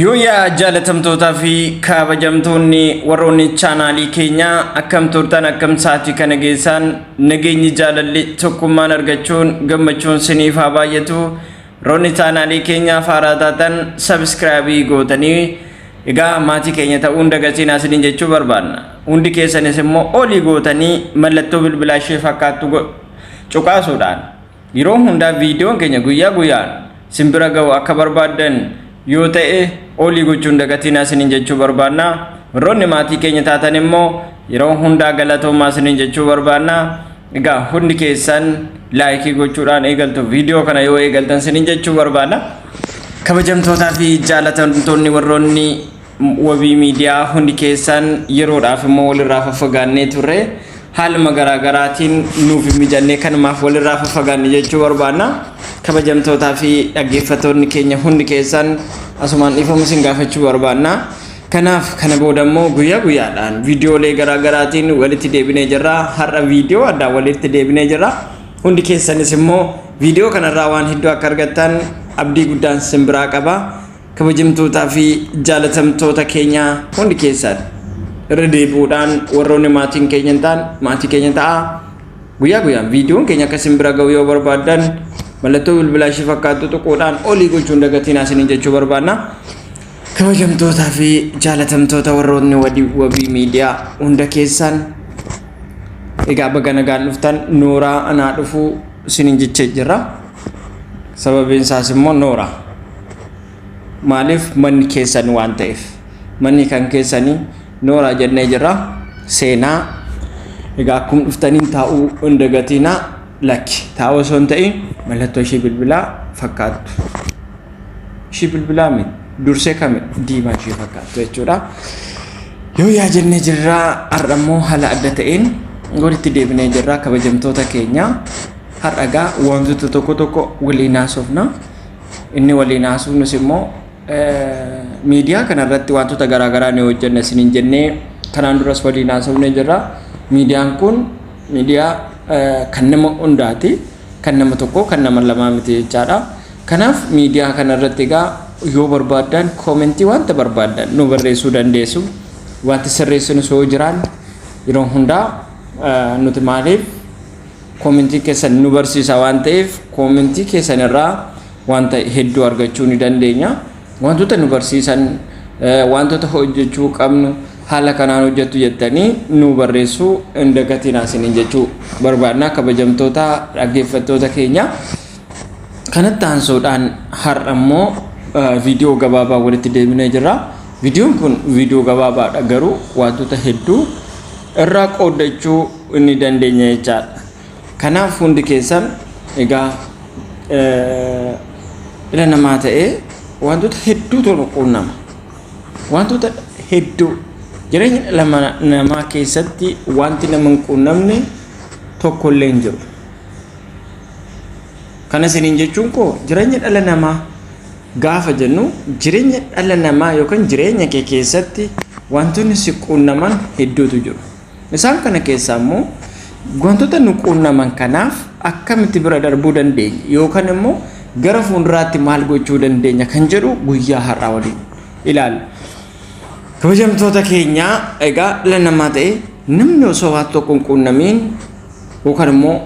Yooyaa jaalatamtootaa fi kabajamtoonni warroonni chaanaalii keenyaa akkam turtan akkam sa'aatii kana geessaan nageenyi jaalalli tokkummaan argachuun gammachuun siniif haa baay'atu roonni chaanaalii keenyaa faaraa taatan sabiskiraabii gootanii egaa maatii keenya ta'uun dagatiin asiniin jechuu barbaanna hundi keessanis immoo olii gootanii mallattoo bilbilaa ishee fakkaattu cuqaasuudhaan Yeroo hundaa viidiyoon keenya guyyaa guyyaan sin bira ga'u akka barbaaddan yoo ta'e oolii gochuu hin dagatinaa sinin jechuu barbaanna. Warroonni maatii keenya taatan immoo yeroo hundaa galatoomaa sinin jechuu barbaanna. Egaa hundi keessan laayikii gochuudhaan eegaltu viidiyoo kana yoo eegaltan sinin jechuu barbaanna. Kabajamtootaa fi jaalatamtoonni warroonni Wabii miidiyaa hundi keessan yeroodhaaf immoo walirraa faffagaannee turre haaluma garaagaraatiin nuuf hin mijannee kanumaaf walirraa faffagaanne jechuu barbaanna. Kabajamtootaa fi dhaggeeffattoonni keenya hundi keessan asumaan dhiifama isin gaafachuu barbaanna. Kanaaf kana booda immoo guyyaa guyyaadhaan viidiyoolee garaagaraatiin walitti deebinee jirra. Har'a viidiyoo addaa walitti deebinee jirra. Hundi keessanis immoo viidiyoo kanarraa waan hedduu akka argattan abdii guddaan sin biraa qaba. Kabajamtootaa fi jaalatamtoota keenya hundi keessaan irra deebi'uudhaan warroonni maatiin keenya hin taane maatii keenya ta'aa guyyaa guyyaan viidiyoon keenya akka isin bira ga'u yoo barbaaddan mallattoo bilbilaa ishee fakkaattu tuquudhaan olii gochuun dagatinaa isiniin jechuu barbaadna. Kabajamtootaa fi jaalatamtoota warroonni wadii wabii miidiyaa hunda keessaan egaa baga nagaan dhuftan nooraa anaa dhufuu isiniin jechee jirra. sababiin isaas immoo noora maaliif manni keessan waan ta'eef manni kan keessanii noora jennee jirra seenaa egaa akkum dhuftaniin taa'uu hin dagatiinaa lakki taa'uu osoo hin ta'in mallattoo ishii bilbilaa fakkaattu ishii bilbilaa mi dursee kami diimaa ishii fakkaattu jechuudha yoo yaa jennee jirraa har'a immoo haala adda ta'een walitti deebinee jirraa kabajamtoota keenyaa Har'a egaa wantoota tokko tokko waliin haasofna. Inni waliin haasofnus immoo miidiyaa kanarratti wantoota garaagaraa ni hojjenna isiniin jennee kanaan duras waliin haasofnee jirra. Miidiyaan kun miidiyaa kan nama hundaati. Kan nama tokkoo kan nama lamaa miti jechaadha. Kanaaf miidiyaa kanarratti egaa yoo barbaaddan koomentii wanta barbaaddan nu barreessuu dandeessu. Wanti sirreessinus yoo jiraan yeroo hundaa nuti maaliif Koomentii keessan nu barsiisa waan ta'eef koomentii keessan irraa wanta hedduu argachuu ni dandeenya. Wantoota nu barsiisan wantoota hojjechuu qabnu haala kanaan hojjettu jettanii nu barreessuu hin dagatinaa isiniin jechuu barbaadna kabajamtoota dhaggeeffattoota keenya. Kanatti aansuudhaan har'a immoo viidiyoo gabaabaa walitti deebinee jirra. Viidiyoon kun viidiyoo gabaabaadha garuu wantoota hedduu irraa qooddachuu hin dandeenye jechaadha. Kanaaf hundi keessan egaa dhala namaa ta'ee wantoota hedduu tolu quunnama. Wantoota hedduu jireenya dhala namaa keessatti wanti nama hin quunnamne tokko illee hin jiru. Kana isiniin jechuun koo jireenya dhala namaa gaafa jennu jireenya dhala namaa yookaan jireenya kee keessatti wantoonni si quunnaman hedduutu jiru. Isaan kana keessaa immoo wantoota nu quunnaman kanaaf akkamitti bira darbuu dandeenya yookaan immoo gara fuulduraatti maal gochuu dandeenya kan jedhu guyyaa har'aa waliin ilaalla. Kabajamtoota keenya egaa dhala namaa ta'e namni osoo waan tokko hin quunnamiin yookaan immoo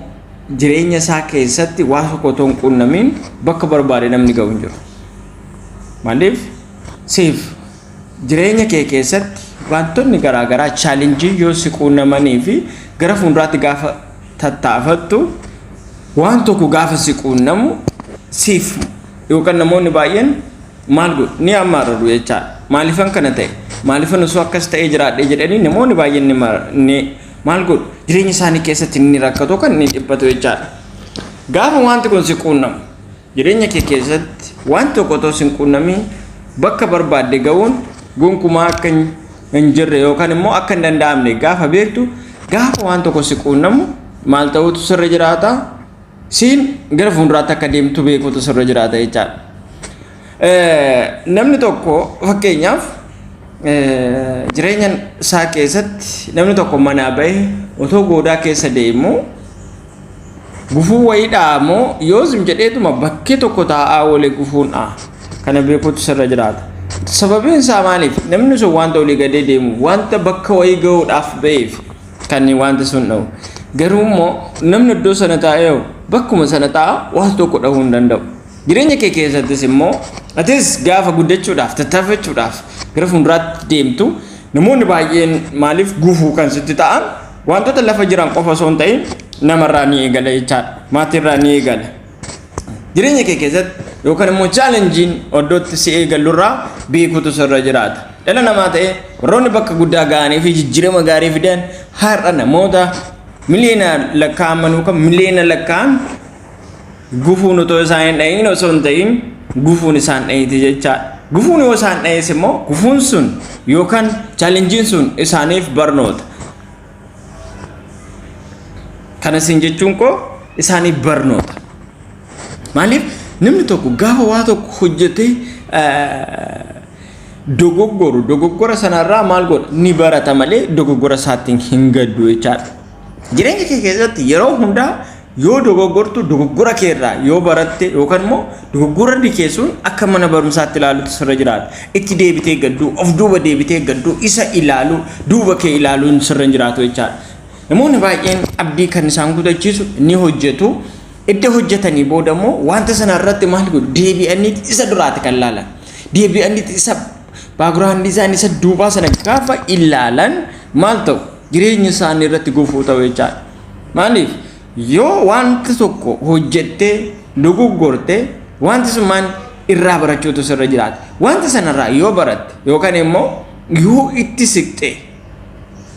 jireenya isaa keessatti waan tokko otoo hin quunnamiin bakka barbaade namni ga'u hin jiru. Maaliif? Siif Jireenya kee keessatti waantonni garaa garaa challenge yoo si quunnamanii fi gara fuulduraatti gaafa tattaafattu waan tokko gaafa si quunnamu siif yookaan namoonni baay'een maal godhu ni ammaarru jechaa maaliifan kana ta'e maaliifan osoo akkas ta'ee jiraadhe jedhanii namoonni baay'een ni ma- ni maal godhu jireenya isaanii keessatti ni rakkatu kan ni dhiphatu jechaadha. Gaafa wanti kun si quunnamu Jireenya kee keessatti waan tokko otoo sin quunnamiin bakka barbaadde ga'uun gonkumaa akka hin jirre yookaan immoo akka hin danda'amne gaafa beektu gaafa waan tokko si quunnamu maal ta'uutu sirra jiraata siin gara fuulduraatti akka deemtu beekuutu sirra jiraata jechaadha. Namni tokko fakkeenyaaf jireenya isaa keessatti namni tokko manaa ba'e otoo goodaa keessa deemu Gufuu wayii dha'a moo yoo zim jedheetuma bakkee tokko taa'aa oolee gufuun dha'a. Kana beekuutu sirra jiraata. Sababiin isaa maaliif namni sun wanta olii gadee deemu wanta bakka wayii ga'uudhaaf ba'eef kan wanta sun dha'u. Garuu immoo namni iddoo sana taa'ee bakkuma sana taa'aa waan tokko dhahuu hin danda'u. Jireenya kee keessattis immoo atis gaafa guddachuudhaaf tattaafachuudhaaf gara fuulduraatti deemtu namoonni baay'een maaliif gufuu kan sitti ta'an Wantoota lafa jiran qofa osoo hin ta'in namarraa ni eegala jechaadha. Maatiirraa ni eegala. Jireenya kee keessatti yookaan immoo chaalenjiin oddootti si eegalurraa beekuutu sirra jiraata. Dhala namaa ta'ee warroonni bakka guddaa ga'anii fi jijjiirama gaarii fidan har'a namoota miliyoonaan lakkaa'aman yookaan miliyoona lakkaa'an Gufuun otoo isaan hin dha'iin osoo hin ta'iin gufuun isaan dha'iiti jechaadha. Gufuun yoo isaan dha'iis immoo gufuun sun yookaan chaalenjiin sun isaaniif barnoota. Kana isin jechuun koo isaaniif barnoota. Maaliif namni tokko gaafa waa tokko hojjetee dogoggoru dogoggora sanarraa maal godha ni barata malee dogoggora isaattiin hin gaddu jechaadha. Jireenya kee keessatti yeroo hundaa Yoo dogoggortu dogoggora kee irraa yoo baratte yookaan immoo dogoggorri kee sun akka mana barumsaatti ilaaluutu sirra jiraata. Itti deebitee gadduu, of duuba deebitee gadduu, isa ilaaluu, duuba kee ilaaluun sirra hin jiraatu jechaadha. Namoonni baay'een abdii kan isaan kutachiisu ni hojjetu. Edda hojjetanii booda immoo wanta sana irratti maal godhu deebi'aniiti isa duraati kan ilaalan. Deebi'aniiti isa baaguraandii isaanii isa duubaa sana gaafa ilaalan maal ta'u? jireenya isaanii irratti gufuu ta'u jechaadha. Maaliif yoo wanti tokko hojjettee dogoggorte wanti sun maal irraa barachuutu sirra jiraata. Wanta sanarraa yoo baratte yookaan immoo yoo itti siqxe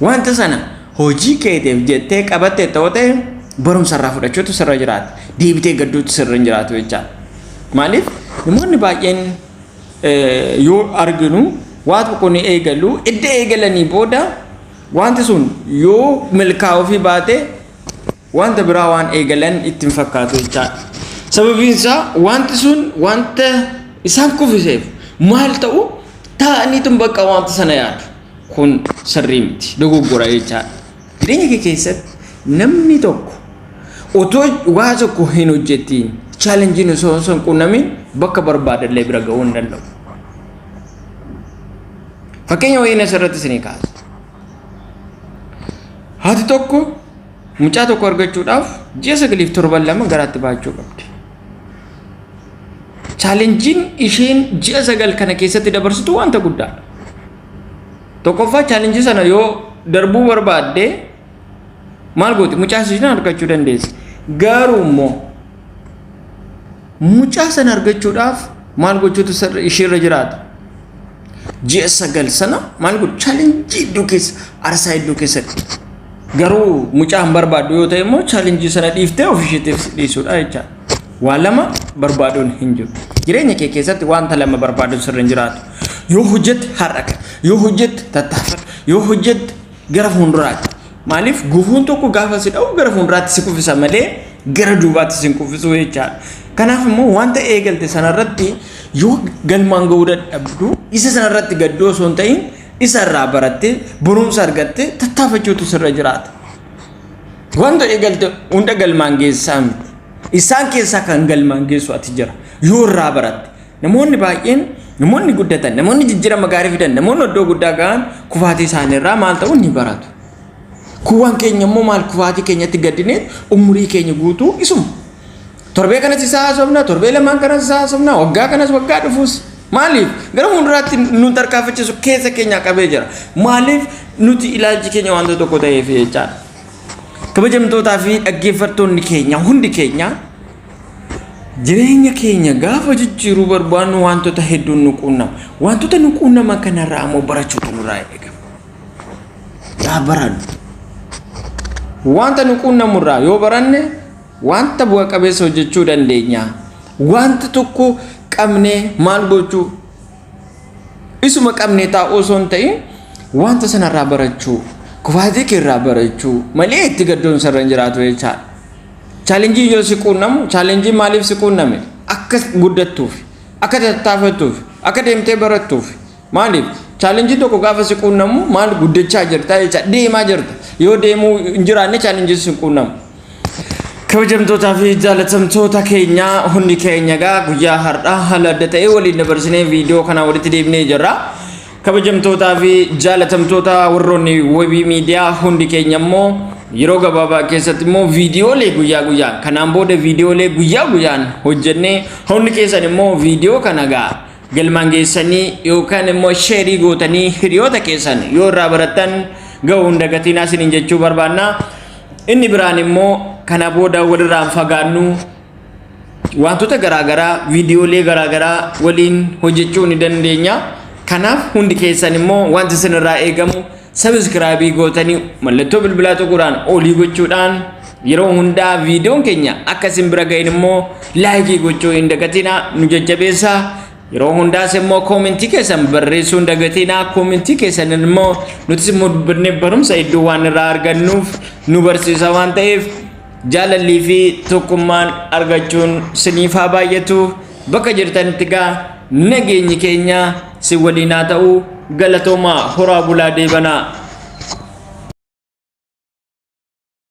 wanta sana hojii keetiif jettee qabatte ta'u ta'e barumsa irraa fudhachuutu sirra jiraata. Deebitee gadduutu sirra hin jiraatu jechaadha. Maaliif namoonni baay'een yoo arginu waa tokko ni eegalu edda eegalanii booda wanti sun yoo milkaa'uufii baate wanta biraa waan eegalan ittiin fakkaatu jechaadha. Sababiin isaa wanti sun wanta isaan kufiseef maal ta'u taa'aniitu bakka wanta sana yaadu. Kun sirrii miti dogoggora jechaadha. Jireenya kee keessatti namni tokko otoo waa tokko hin hojjetiin chaalenjiin osoo osoo hin quunnamin bakka barbaadallee bira ga'uu hin danda'u. Fakkeenya wayiin asirratti isinii kaasa. Haati tokko mucaa tokko argachuudhaaf ji'a sagaliif torban lama garaatti baachuu qabdi. Chaalenjiin isheen ji'a sagal kana keessatti dabarsitu wanta guddaadha. Tokkoffaa chaalenjii sana yoo darbuu barbaadde maal gooti mucaa sana argachuu dandeessi. Garuu immoo mucaa sana argachuudhaaf maal gochuutu sirri- ishiirra jiraata. Ji'a sagal sana maal godhu chaalenjii iddoo keessa arsaa iddoo keessatti. Garuu mucaa hin barbaaddu yoo ta'e immoo chaalenjii sana dhiiftee of isheetiif dhiisuudha jechaadha. Waa lama barbaaduun hin jiru. Jireenya kee keessatti wanta lama barbaaduun sirri hin jiraatu. Yoo hojjette har'a kan, yoo hojjette tattaafadhu, yoo hojjette gara fuulduraatti. Maaliif gufuun tokko gaafa si dha'u gara fuulduraatti si kuffisa malee gara duubaatti si hin kuffisuu jechaadha. Kanaaf immoo wanta eegalte sanarratti yoo galmaan ga'uu dadhabdu isa sanarratti gadduu osoo hin ta'in isa irraa barattee barumsa argattee tattaafachuutu sirra jiraata. Wanta eegalte hunda galmaan geessaa miti. Isaan keessaa kan galmaan geessu ati jira. Yoo irraa baratte. Namoonni baay'een namoonni guddatan, namoonni jijjiirama gaarii fidan, namoonni iddoo guddaa ga'an kufaatii isaanii irraa maal ta'u ni baratu. Kuwwan keenya immoo maal kufaatii keenyatti gaddinee umurii keenya guutuu isuma. Torbee kanas isaa haasofna, torbee lamaan kanas isaa haasofna, waggaa kanas waggaa dhufuus. Maaliif gara fuulduraatti nu tarkaanfachiisu keessa keenya qabee jira. Maaliif nuti ilaalchi keenya wanta tokko ta'eef jechaadha. Kabajamtootaa fi dhaggeeffattoonni keenya hundi keenya jireenya keenya gaafa jijjiiruu barbaannu wantoota hedduun nu quunnama. Wantoota nu quunnaman kanarraa ammoo barachuutu nurraa eegama. Yaa barannu. Wanta nu quunnamurraa yoo baranne wanta bu'a qabeessa hojjechuu dandeenya. Wanta tokko qabnee maal gochuu Isuma qabnee taa'uu osoo hin ta'in wanta sanarraa barachuu, kufaatii keerraa barachuu malee itti gaddoon sarara hin jiraatu jechaadha. Chaalenjiin yoo si quunnamu, chaalenjiin maaliif si quunname? Akka guddattuuf, akka tattaafattuuf, akka deemtee barattuuf. Maaliif? Chaalenjiin tokko gaafa si quunnamu maal guddachaa jirta jecha deemaa jirta. Yoo deemuu hin jiraanne chaalenjiin si quunnamu. kabajamtootaa fi jaalatamtoota keenya hundi keenya egaa guyyaa har'aa haala adda ta'e waliin dabarsinee viidiyoo kana walitti deebinee jirra. Kabajamtootaa fi jaalatamtoota warroonni webii miidiyaa hundi keenya immoo yeroo gabaabaa keessatti immoo viidiyoolee guyyaa guyyaan kanaan booda viidiyoolee guyyaa guyyaan hojjennee hundi keessan immoo viidiyoo kana egaa galmaan geessanii yookaan immoo sheerii gootanii hiriyoota keessan yoo irraa barattan ga'uu hin dagatinaa isiniin jechuu barbaanna. Inni biraan immoo kana booda walirraa hin fagaannu wantoota garaagaraa viidiyoolee garaagaraa waliin hojjechuu ni dandeenya. Kanaaf hundi keessan immoo wanti isinirraa eegamu sabiskiraabii gootanii mallattoo bilbilaa tuquudhaan olii gochuudhaan yeroo hundaa viidiyoon keenya akka isin bira ga'in immoo laayikii gochuu hin dagatinaa nu jajjabeessaa. Yeroo hundaas immoo koomintii keessan barreessuu hin dagatiinaa koomintii keessan immoo nutis immoo dubbannee barumsa hedduu waan irraa argannuuf nu barsiisa waan ta'eef jaalallii fi tokkummaan argachuun siniif haa baay'atu bakka jirtanitti gaa nageenyi keenya si waliin haa ta'u galatoomaa horaa bulaa deebanaa.